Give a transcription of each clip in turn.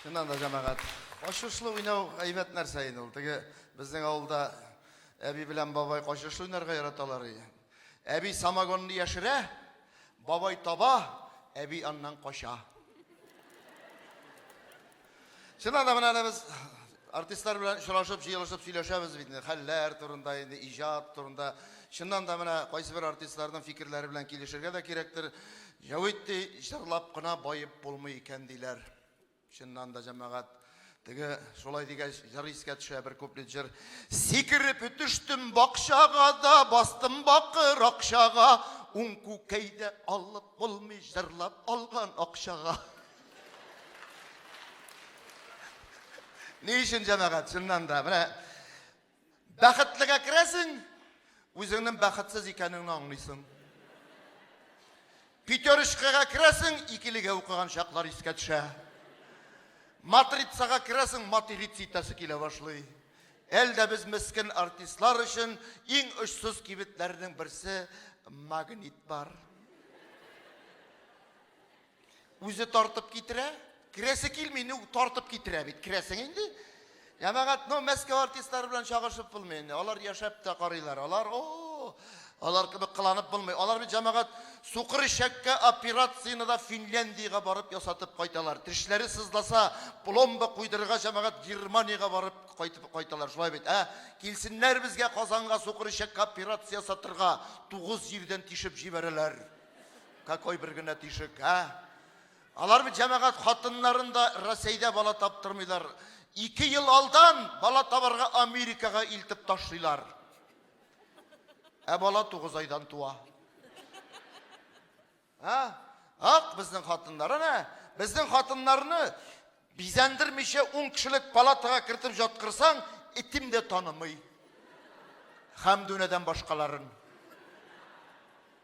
Чыннан да, җәмәгать, качышлы уйнау әйбәт нәрсә инде ул. Теге безнең авылда әби белән бабай качышлы уйнарга яраталар. Әби самогонны яшерә, бабай таба, әби аннан кача. Чыннан да, менә без Артистлар белән очрашып, җыелышып сөйләшәбез бит инде, хәлләр турында, инде иҗат турында. Чыннан да менә кайсы бер артистларның фикерләре белән килешергә дә кирәктер. Җәвит ди, җырлап кына баеп булмый икән, диләр. Чыннан да, җәмәгать, теге шулай дигәч, җыр искә төшә, бер куплет җыр. Сикереп төштем бакчага да, бастым бакыр акчага, уң күкәйдә алып булмый, җырлап алган акчага. Ни өчен җәмәгать, чыннан да, менә бәхетлегә керәсең, үзеңнең бәхетсез икәнеңне аңлыйсың. Пятерочкага керәсең, икелегә укыган чаклар искә төшә. Матрицага керәсең, матриц итәсе килә башлый. Әлдә без мескен артистлар өчен иң очсыз кибетләрнең берсе магнит бар. Үзе тартып китерә. Керәсе килми, ну тартып китерә бит. Керәсең инде. Җәмәгать, ну Мәскәү артистлары белән чагышып булмый инде. Алар яшәп тә карыйлар. Алар, о, алар кебек кыланып булмый. Алар бит җәмәгать сукыр ишәккә операцияне дә Финляндиягә барып ясатып кайталар. Тешләре сызласа, пломба куйдырырга җәмәгать Германиягә барып кайтып кайталар. Шулай бит, ә? Килсеннәр безгә Казанга сукыр ишәккә операция ясатырга. Тугыз җирдән тишеп җибәрәләр. Какой бер генә тишек, ә? Алар бит җәмәгать хатыннарын да Рәсәйдә бала таптырмыйлар. Ике ел алдан бала табарга Америкага илтеп ташлыйлар. Ә бала тугыз айдан туа. Ә? Ак безнең хатыннар, әнә, безнең хатыннарны бизәндермичә ун кешелек палатага кертеп жаткырсаң, итим дә танымый. Хәмдүнәдән башкаларын.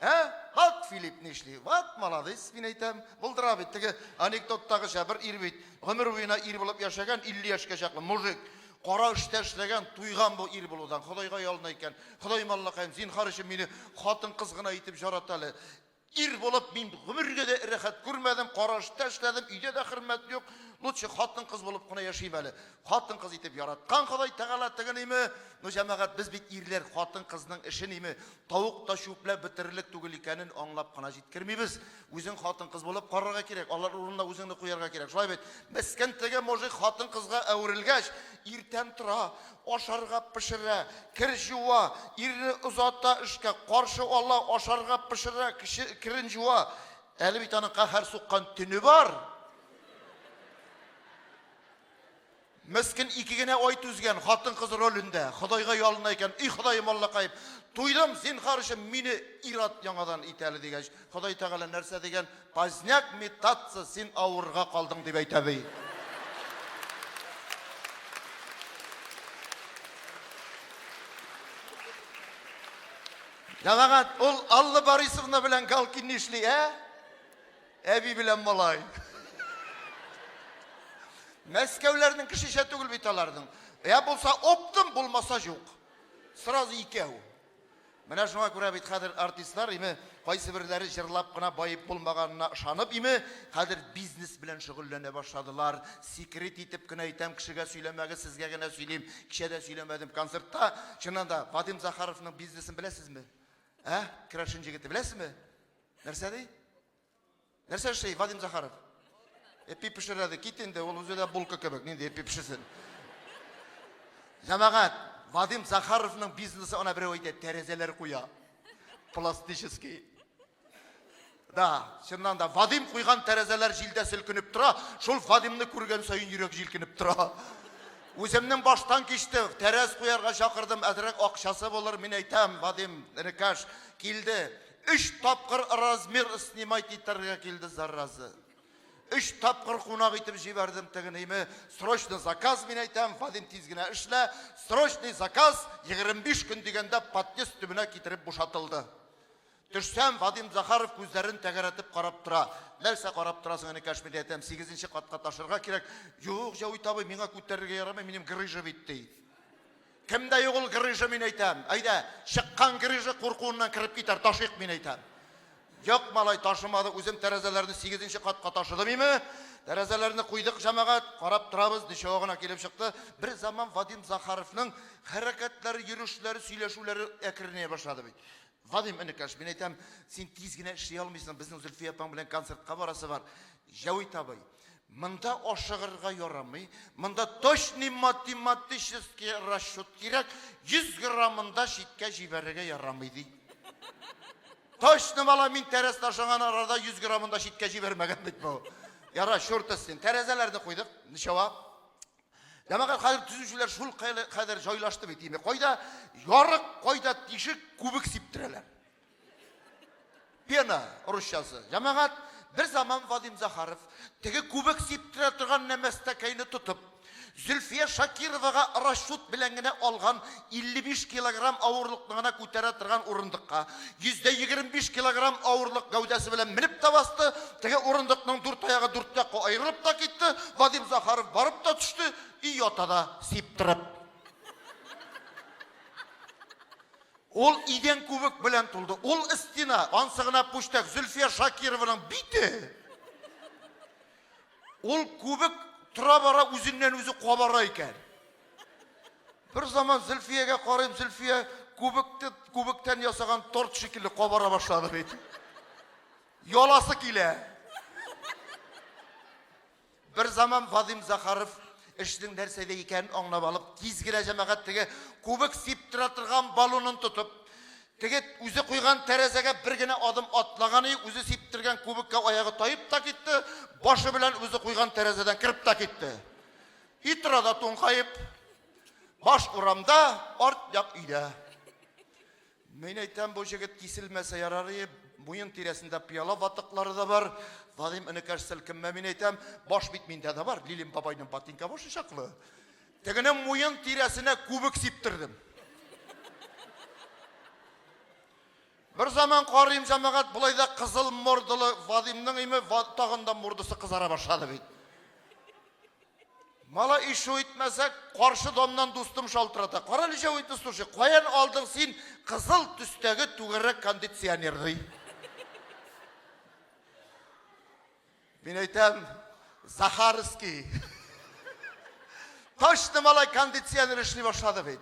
Ә? Ват Филипп нишли? Ват молодец, мин әйтәм. Булдыра бит теге анекдоттагыча бер ир бит. Гомер буена ир булып яшәгән, 50 яшькә чаклы мужик. Кара эштә эшләгән, туйган бу ир булудан. Ходайга ялына икән. Ходай маллакаем, зинхар өчен мине хатын кыз гына итеп жарат әле. Ир булып мин гомергә дә рәхәт күрмәдем, кара эштә эшләдем, өйдә дә хөрмәт юк. Лучше хатын кыз булып кына яшим әле. Хатын кыз итеп яраткан Ходай Тәгалә тегениме? Ну җәмәгать, без бит ирләр, хатын кызның эшениме? Тавык та чүпләп бетерерлек түгел икәнен аңлап кына җиткермибез. Үзең хатын-кыз булып карарга кирәк, алар урынына үзеңне куярга кирәк. Шулай бит? Мескен теге мужик хатын-кызга әверелгәч, иртән тора, ашарга пешерә, кер җуа, ирне озата эшкә, каршы ала, ашарга пешерә, кеше керен җуа. Әле бит аның каһәр суккан төне бар. Мескен ике генә ай түзгән, хатын-кыз ролендә, Ходайга ялына икән, И Ходаем Аллакаем, туйдым, зинхар өчен мине ир-ат яңадан ит әле, дигәч, Ходай Тәгалә нәрсә дигән, Поздняк метаться, син авырырга калдың, дип әйтә ди. Җәмәгать, ул Алла Борисовна белән Галкин нишли, ә? Әби белән малай. Мәскәүләрнең кешечә түгел бит аларның. Я булса оптым, булмаса җук. Сразу икәү. Менә шуңа күрә бит хәзер артистлар име, кайсы берләре җырлап кына баеп булмаганына ышанып име, хәзер бизнес белән шөгыльләнә башладылар. Секрет итеп кенә әйтәм, кешегә сөйләмәгез, сезгә генә сөйлим. Кичә дә сөйләмәдем концертта. Чыннан да, Вадим Захаровның бизнесын беләсезме? Ә? Керәшен җегете, беләсезме? Нәрсә ди? Нәрсә эшли Вадим Захаров? Эпи пешерә ди. Кит инде, ул үзе дә булка кебек. Нинди эпи пешерсен? Җәмәгать, Вадим Захаровның бизнесы ана берәү әйтә, тәрәзәләр куя. Пластический. Да, чыннан да Вадим куйган тәрәзәләр җилдә селкенеп тора. Шул Вадимны күргән саен йөрәк җилкенеп тора. Үземнең баштан кичте, тәрәз куярга чакырдым, әзрәк акчасы булыр, мин әйтәм, Вадим, энекәш, килде. Өч тапкыр размер снимать итәргә килде зараза. Өч тапкыр кунак итеп җибәрдем тегенеиме, срочно заказ, мин әйтәм, Вадим тиз генә эшлә, срочный заказ, 25 көн дигәндә подъезд төбенә китереп бушатылды. Төшсәм, Вадим Захаров күзләрен тәгәрәтеп карап тора. Нәрсә карап торасың, энекәш, мин әйтәм, сигезенче катка ташырга кирәк. Юк, Җәвит абый, миңа күтәрергә ярамый, минем грыжа бит, ди. Кемдә юк ул грыжа, мин әйтәм. Әйдә, чыккан грыжа куркуыннан кереп китәр, ташыйк, мин әйтәм. Юк, малай, ташымады, үзем тәрәзәләрне сигезенче катка ташыдым име. Тәрәзәләрне куйдык, җәмәгать, карап торабыз, ничава гына килеп чыкты. Бер заман Вадим Захаровның хәрәкәтләре, йөрешләре, сөйләшүләре әкренәя башлады бит. Вадим, энекәш, мин әйтәм, син тиз генә эшли алмыйсың, безнең Зөлфия апаң белән концертка барасы бар. Җәвит абый, монда ашыгырга ярамый, монда точный математический расчет кирәк, 100 граммын да читкә җибәрергә ярамый, ди. Точно бала, мин тәрәз ташыган арада 100 граммын да читкә җибәрмәгән бит бу. Яра, чуртыс син. Тәрәзәләрне куйдык, ничава. Җәмәгать хәзер төзүчеләр шул кадәр җайлашты бит инде. Кайда ярык, кайда тишек, күбек сиптерәләр. Пена русчасы. Җәмәгать бер заман Вадим Захаров теге күбек сиптерә торган нәмәстәкәйне тотып, Зөлфия Шакировага расчет белән генә алган 55 килограмм авырлыкны гына күтәрә торган урындыкка 125 килограмм авырлык гәүдәсе белән менеп тә басты. Теге урындыкның дүрт аягы дүрт якка аерылып та китте. Вадим Захаров барып та төште и ята да сиптырып. Ул идән күбек белән тулды. Ул стена, ансы гына пүчтәк Зөлфия Шакированың бите. Ул күбек тора-бара үзеннән-үзе кабара икән. Бер заман Зөлфиягә карыйм, Зөлфия күбекте күбектән ясаган торт шикелле кабара башлады бит. Яласы килә. Бер заман Вадим Захаров эшнең нәрсәдә икәнен аңлап алып, тиз генә җәмәгать теге күбек сиптертә торган баллонын тотып, Теге үзе куйган тәрәзәгә бер генә адым атлаганы юк, үзе сиптергән кубикка аягы таеп та китте, башы белән үзе куйган тәрәзәдән кереп тә китте. И тора да туңкаеп, баш урамда, арт як өйдә. Мин әйтәм, бу җегет киселмәсә ярар ие, муен тирәсендә пыяла ватыклары да бар, Вадим энекәш селкенмә, мин әйтәм, баш бит миндә дә бар, Лилин бабайның ботинка башы чаклы. Тегенең муен тирәсенә күбек сиптердем. Бер заман карыйм, җәмәгать, болай да кызыл мордалы Вадимның име тагын да мордасы кызара башлады бит. Мала ишу итмәсәк, каршы домнан дустым шалтырата. Кара әле җәү итне слушай, каян алдың син кызыл төстәге түгәрәк кондиционерны? Мин әйтәм, Захарский. Точно малай кондиционер эшли башлады бит.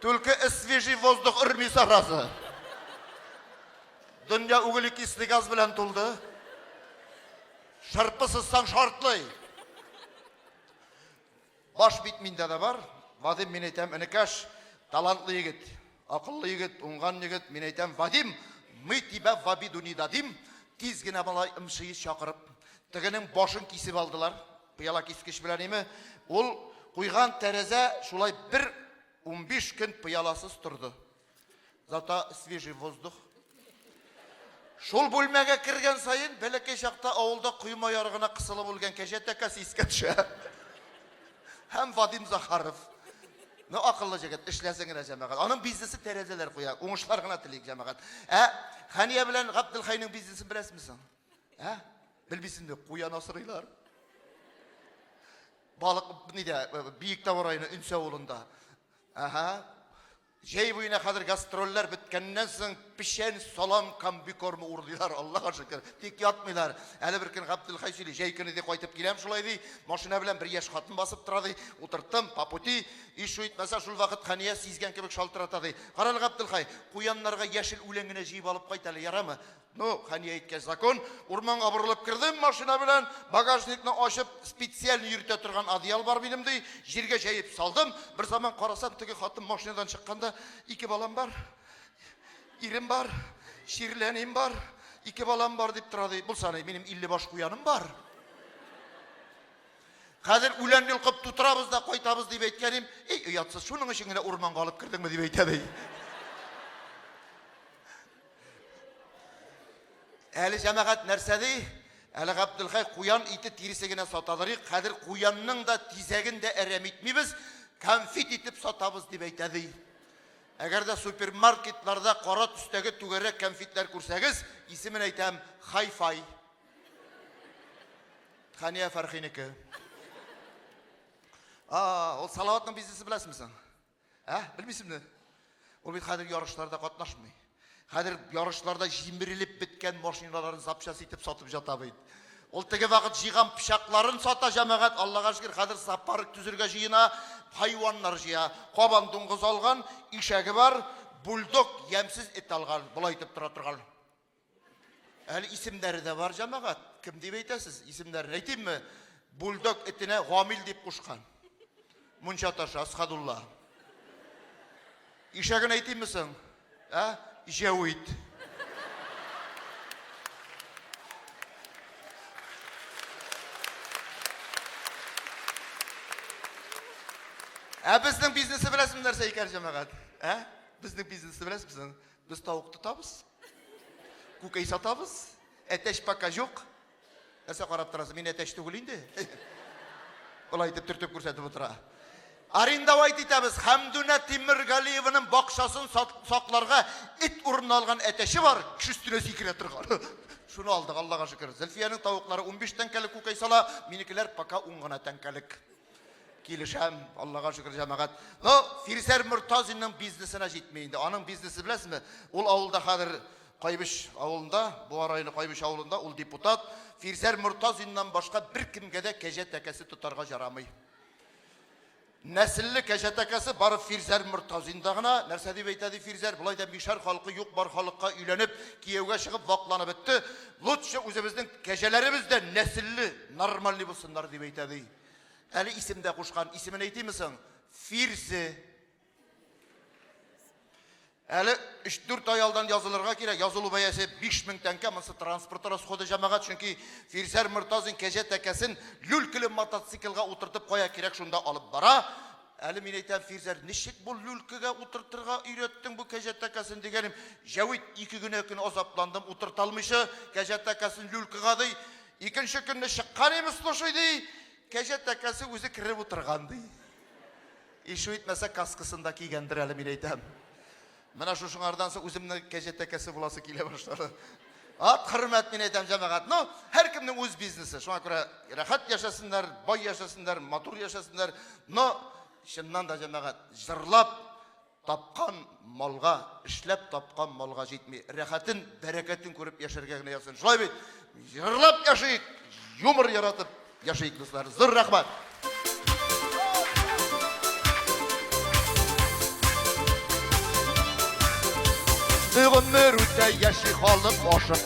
Только свежий воздух өрми саразы. Дөнья углекислый газ белән тулды. Шырпы сызсаң шартлый. Баш бит миндә дә бар. Вадим, мин әйтәм, энекәш, талантлы егет, акыллы егет, уңган егет, мин әйтәм, Вадим, мы тебя в обиду не дадим, тиз генә малай МШИ чакырып, тегенең башын кисеп алдылар, пыяла кискеч белән име, ул куйган тәрәзә шулай бер унбиш көн пыяласыз торды. Зато свежий воздух. Шул бүлмәгә кергән саен бәләкәй чакта авылда койма ярыгына кысылып үлгән кәҗә тәкәсе искә төшә. Һәм Вадим Захаров. Ну, акыллы җегет, эшләсен генә җәмәгать. Аның бизнесы тәрәзәләр куя. Уңышлар гына телик җәмәгать. Ә Хәния белән Габделхайның бизнесын беләсезме соң? Ә? Белмисезме? Куян асрыйлар. Балык нидә? Биектау районы Өнсә авылында. Ага. Җәй буена хәзер гастрольләр беткәннән соң печән, салам, комбикорм урлыйлар, Аллага шөкер. Тик ятмыйлар. Әле бер көн Габделхай сөйли, җәй көне ди кайтып киләм шулай ди, машина белән бер яшь хатын басып тора ди, утырттым, по пути, ишу итмәсә шул вакыт Хәния сизгән кебек шалтырата ди. Карале, Габделхай, куяннарга яшел үлән генә җыеп алып кайт әле, ярамы? Ну, хәния әйткән закон, урманга борылып кердем машина белән, багажникны ачып, специаль йөртә торган одеял бар минем ди, җиргә җәеп салдым. Бер заман карасам, теге хатын машинадан чыкканда, ике балам бар, ирем бар, чирләним бар, ике балам бар дип тора ди. Булса ни, минем 50 баш куяным бар. Хәзер үлән йолкып тутырабыз да кайтабыз дип әйткәнем, эй, оятсыз, шуның өчен генә урманга алып кердеңме дип әйтә ди. Әле җәмәгать нәрсә ди? Әле Габделхай куян ите тиресе генә сатадыр. Хәзер куянның да тизәген дә әрәм итмибез, конфет итеп сатабыз дип әйтә ди. Әгәр дә супермаркетларда кара төстәге түгәрәк конфетлар күрсәгез, исемен әйтәм, Хай-фай. Хания Фәрхинеке. А, ул Салаватның бизнесы беләсеңме соң? Ә, белмисеңме? Ул бит хәзер ярышларда катнашмый. Хәзер ярышларда җимерелеп беткән машиналарын запчасть итеп сатып жата бит. Ул теге вакыт җыйган пычакларын сата җәмәгать, Аллага шөкер, хәзер зоопарк төзергә җыена, хайваннар җыя. Кабан дуңгыз алган, ишәге бар, бульдог ямьсез эт алган, болай итеп тора торган. Әле исемнәре дә бар, җәмәгать. Кем дип әйтәсез? Исемнәрен әйтимме? Бульдог этенә Гамил дип кушкан. Мунча ташы Асхадулла. Ишәген әйтимме соң? Ә? Җәвит. Ә безнең бизнесы беләсезме нәрсә икән, җәмәгать? Ә? Безнең бизнесы беләсезме соң? Без тавык тотабыз, Күкәй сатабыз. Әтәч пока җук. Нәрсә карап торасыз? Мин әтәч түгел инде. Болай итеп төртеп күрсәтеп утыра. Арендовать итәбез. Хәмдүнә Тимергалиеваның бакчасын сакларга эт урынына алган әтәче бар, кеше өстенә сикерә торган. Шуны алдык, Аллага шөкер. Зөлфиянең тавыклары 15 тәңкәлек күкәй сала, минекеләр пока 10 гына тәңкәлек. Килешәм, Аллага шөкер, җәмәгать. Но Фирзәр Мортазинның бизнесына җитми инде. Аның бизнесы беләсезме? Ул авылда хәзер Кайбыч авылында, Буа районы Кайбыч авылында ул депутат. Фирзәр Мортазиннан башка бер кемгә дә кәҗә тәкәсе тотарга жарамый. Нәселле кәҗә тәкәсе бары Фирзәр Мортазинда гына. Нәрсә дип әйтә ди Фирзәр? Болай да мишәр халкы юк бар халыкка өйләнеп, кияүгә чыгып вакланып бетте. Лучше үзебезнең кәҗәләребез дә нәселле, нормальный булсыннар дип әйтә ди. Әле исем дә кушкан. Исемен әйтиме соң? Фирсе. Әле 3-4 ай алдан язылырга кирәк. Язылу бәясе 5000 тәңкә. Монсы транспорт расходы җәмәгать, чөнки Фирсәр Мортазин кәҗә тәкәсен люлькалы мотоциклга утыртып кая кирәк шунда алып бара. Әле мин әйтәм, Фирзәр, ничек бу люлькага утыртырга өйрәттең бу кәҗә тәкәсен дигәнем. Җәвит ике генә көн азапландым, утырталмыйча кәҗә тәкәсен люлькага ди. Икенче көнне чыккан имеш слушай, ди, кәҗә тәкәсе үзе кереп утырган, ди. Ишу итмәсә, каскасын да кигәндер әле, мин әйтәм. Менә шушыңардан соң үземне кәҗә тәкәсе буласы килә башлады. Ат хөрмәт мин әйтәм, җәмәгать. Ну, һәркемнең үз бизнесы. Шуңа күрә рәхәт яшәсеннәр, бай яшәсеннәр, матур яшәсеннәр. Но, чыннан да, җәмәгать, җырлап, Тапкан малга, эшләп тапкан малга җитми. Рәхәтен, бәрәкәтен күреп яшәргә генә язсын. Шулай бит? Җырлап яшик, юмор яратып яшик, дуслар. Зур рәхмәт! Гомер үтә, яши халык ашык.